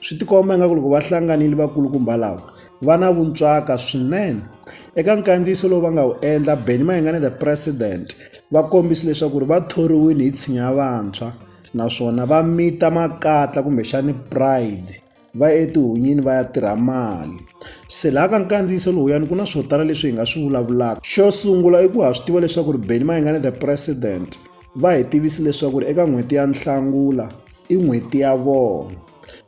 swi tikomba ingaku loko va hlanganile vakulukumba lava va na vuntswaka swinene eka nkandziyiso lowu va nga wu endla benny mayengane the president va kombise leswaku ri va thoriwile hi tshinya vantshwa naswona va mita makatla kumbexani pride va ya etihunyini va ya tirha mali se laha ka nkandziyiso lowuyani ku na swo tala leswi hi nga swi vulavulaka xo sungula i ku ha swi tiva leswaku ri benny mayengane the president va hi tivisi leswaku ri eka n'hweti ya nhlangula i n'hweti ya vona.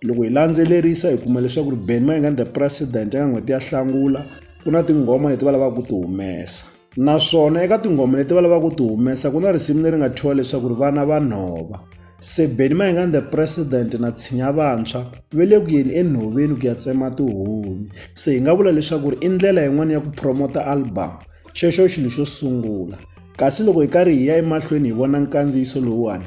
Loko hi landzelerisa hi kuma leswaku ri Benny Mayengani the president eka n'hweti ya Nhlangula, ku na tinghoma leti va lavaka ku ti humesa. Naswona eka tinghoma leti va lavaka ku ti humesa ku na risimu leri nga thyiwa leswaku ri vana va nhova. Se Benny Mayengani the president na Tshinya Vantshwa va le ku yeni enhoveni ku ya tsema tihunyi. Se hi nga vula leswaku ri i ndlela yin'wani ya ku promote-a album. Xexo xilo xo sungula. Kasi loko hi karhi hi ya emahlweni hi vona nkandziyiso lowuwani,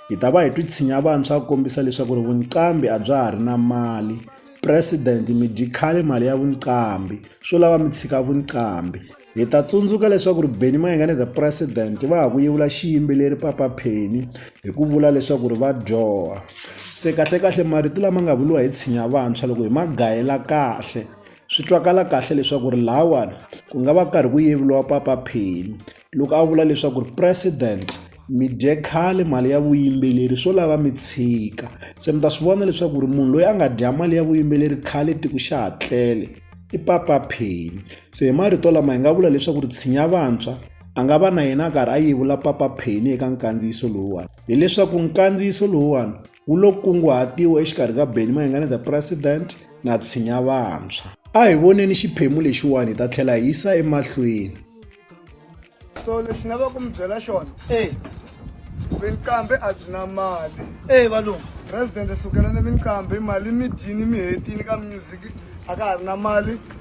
hi ta va hi twi tshinya vantshwa ku kombisa leswaku ri vunqambi a bya ha ri na mali. President, mi dyi khale mali ya vunqambi. Swo lava mi tshika vunqambi. Hi ta tsundzuka leswaku ri Benny Mayengani the President va ha ku yevula xiyimbeleri Papa Penny hi ku vula leswaku ri va dyoha. Se kahlekahle marito lama nga vuriwa hi tshinya vantshwa loko hi ma gayela kahle, Swi twakala kahle leswaku ri lahawani ku nga va karhi ku yevuriwa papa Phemu loko a vula leswaku ri president mi dye khale mali ya vuyimbeleri swo lava mi tshika se mi ta swi vona leswaku ri munhu loyi a nga dya mali ya vuyimbeleri khale tiko xa ha tlele i papa Phemu se hi marito lama hi nga vula leswaku ri tshinya vantshwa a nga va na yena a karhi a yevula papa Phemu eka nkandziyiso lowuwani hileswaku nkandziyiso lowuwani wu lo kunguhatiwa exikarhi ka Benny Mayengani the President na Tshinya Vantshwa. A hi voneni xiphemu lexiwani hi ta tlhela hi yisa emahlweni. So lexi nga va ku mi byela xona eh vinqambi a byi na mali eh valungu president sukela ni vinqambi mali mi dyini mi hetini ka music a ka ha ri na mali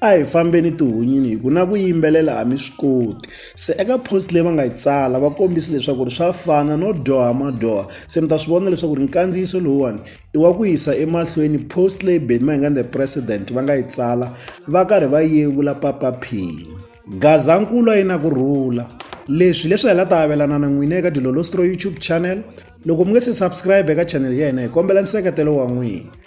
A hi fambeni tihunyini hi ku na ku yimbelela a mi swi koti se eka post leyi va nga yi tsala va kombisi leswaku ri swa fana no dyoha madyoha se mi ta swi vona leswaku ri nkandziyiso lowuwani i wa ku yisa emahlweni post leyi beni mahingani the president va nga yi tsala va karhi va yevula papa phini gazankulu a yi na ku rhula leswi leswi hi la ta avelana na n'wina eka dilolostro youtube channel loko mi nge se subscribe eka channel ya hina hi kombela nseketelo wa n'wina